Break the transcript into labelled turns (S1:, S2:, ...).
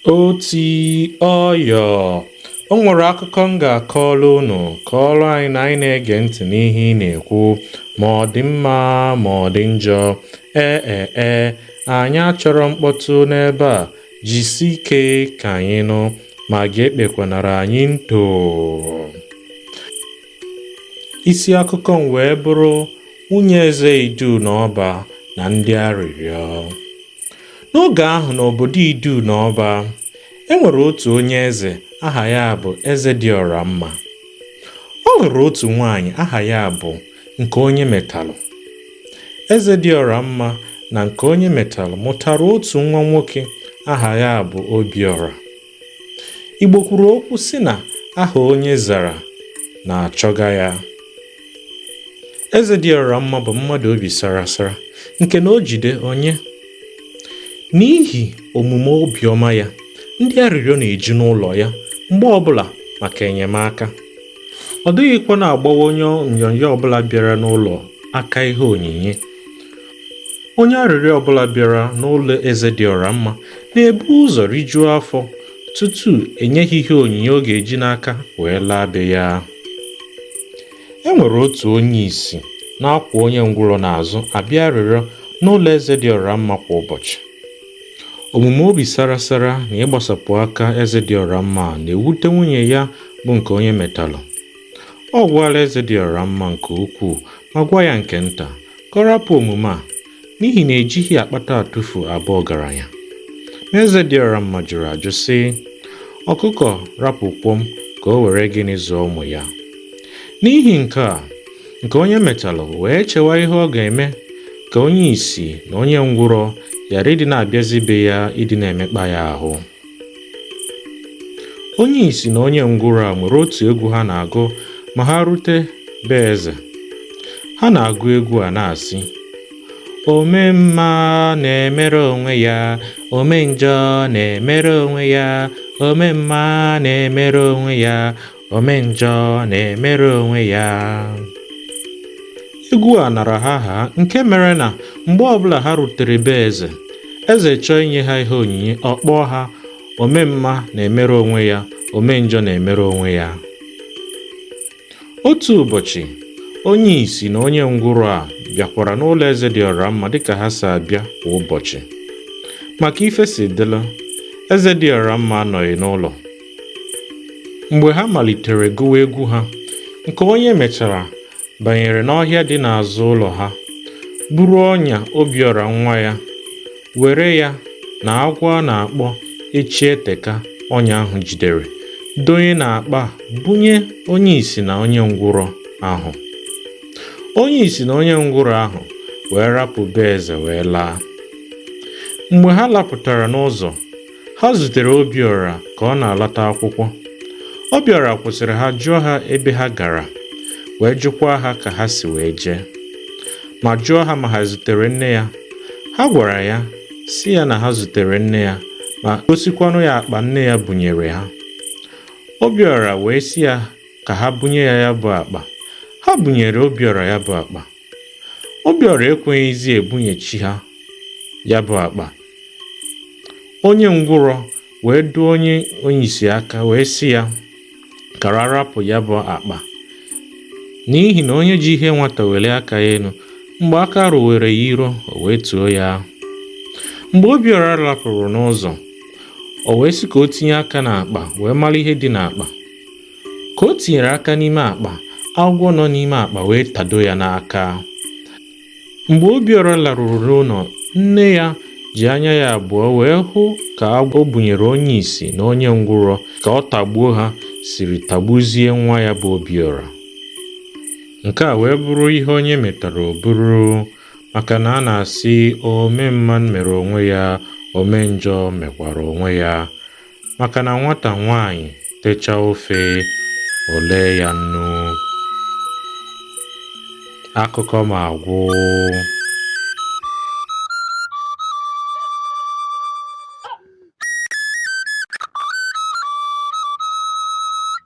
S1: Oti ọyọ, o nwere akụkọ m ga-akọrọ unu, kọọrọ anyị na anyị na-ege ntị n'ihe ị na-ekwu, ma ọ dị mma ma ọ dị njọ. Ee e e, anyị achọrọ mkpọtụ n'ebe a. Jisi ike ka anyị nụ, ma gị ekpekwanara anyị nto. Isi akụkọ m wee bụrụ nwunye eze Idu na Ọba na ndị arịrịọ. N'oge ahụ n'obodo Idu na Ọba, e nwere otu onye eze aha ya bụ Eze dị ọra mma. Ọ lụrụ otu nwaanyị aha ya bụ nke onye metalụ eze dị ọra mma na nke onye metalụ mụtara otu nwa nwoke aha ya bụ obiọra igbo kwuru okwu sị na aha onye zara na-achọga ya eze dị ọra mma bụ mmadụ obi sara sara nke na o jide o nye n'ihi omume obiọma ya ndị arịrịọ na-eju n'ụlọ ya mgbe ọbụla maka enyemaka ọ dịghịkwa na-agbawa onye onyonyo ọbụla bịara n'ụlọ aka ihe onyinye onye arịrịọ ọbụla bịara n'ụlọ eze dị ọra mma na-ebu ụzọ rijuo afọ tutu e nye ya ihe onyinye ọ ga-eji n'aka wee laa be ya e nwere otu onye isi na-akwọ onye ngwụrọ n'azụ abịa arịrịọ n'ụlọ eze dị ọra mma kwa ụbọchị Omume obi sara sara na ịgbasapụ aka eze dị ọra mma na-ewute nwunye ya bụ nke onye metalụ. Ọ gwara eze dị ọra mma nke ukwuu ma gwa ya nke nta ka ọ rapụ omume a n'ihi na ejighị akpata atụfu abụ ọgaranya. Ma eze dị ọra mma jụrụ ajụ sị, ọkụkọ rapụ kwọm ka o were gịnị zụọ ụmụ ya. N'ihi nke a, nke onye metalụ wee chewa ihe ọ ga-eme ka onye isi na onye ngwụrọ ghara ịdị na-abịazi be ya ịdị na-emekpa ya ahụ onye isi na onye ngwụrọ a nwere otu egwu ha na-agụ ma ha rute be eze ha na-agụ egwu a na-asị ome mma na-emere onwe ya ome njọ na-emere onwe ya ome mma na-emere onwe ya ome njọ na-emere onwe ya egwu a nara ha aha nke mere na mgbe ọbụla ha rutere be eze eze chọọ inye ha ihe onyinye ọ kpọọ ha ome mma na-emere onwe ya ome njọ na-emere onwe ya otu ụbọchị onye isi na onye ngwụrọ a bịakwara n'ụlọ eze dị ọra mma dịka ha si abịa kwa ụbọchị ma ka ife si dịla eze dị ọra mma anọghị n'ụlọ mgbe ha malitere gụwa egwu ha nkeonyemetara banyere n'ọhịa dị n'azụ ụlọ ha buru ọnya obiọra nwa ya were ya na agwọ a na-akpọ echieteka ọnya ahụ jidere donye n'akpa bunye onye isi na onye ngwụrọ ahụ onye isi na onye ngwụrọ ahụ wee rapụ be eze wee laa mgbe ha lapụtara n'ụzọ ha zutere Obiọra ka ọ na-alata akwụkwọ Obiọra kwụsịrị ha jụọ ha ebe ha gara wee jụkwa ha ka ha si wee jee ma jụọ ha ma ha zutere nne ya ha gwara ya sị ya na ha zutere nne ya ma gosikwanụ ya akpa nne ya bunyere ha Obiọra wee sị ya ka ha bunye ya ya bụ akpa ha bunyere Obiọra ya bụ akpa Obiọra ekweghịzi ebunyechi ha ya bụ akpa onye ngwụrọ wee dụọ onye onye isi aka wee sị ya ka ha rapụ ya bụ akpa n'ihi na onye ji ihe nwata welie aka ya elu mgbe aka rụwere ya iro o wetuo ya mgbe obiọra lapụrụ n'ụzọ o wee sị ka o tinye aka n'akpa wee mara ihe dị n'akpa ka o tinyere aka n'ime akpa agwọ nọ n'ime akpa wee tado ya n'aka mgbe Obiọra laruru n'ụlọ nne ya ji anya ya abụọ wee hụ ka agwọ o bunyere onye isi na onye ngwụrọ ka ọ tagbuo ha siri tagbuzie nwa ya bụ Obiọra nke a wee bụrụ ihe onye metara o buru maka na a na-asị ome mma mere onwe ya ome njọ mekwara onwe ya maka na nwata nwaanyị techa ofe o lee ya nnu akụkọ m agwụ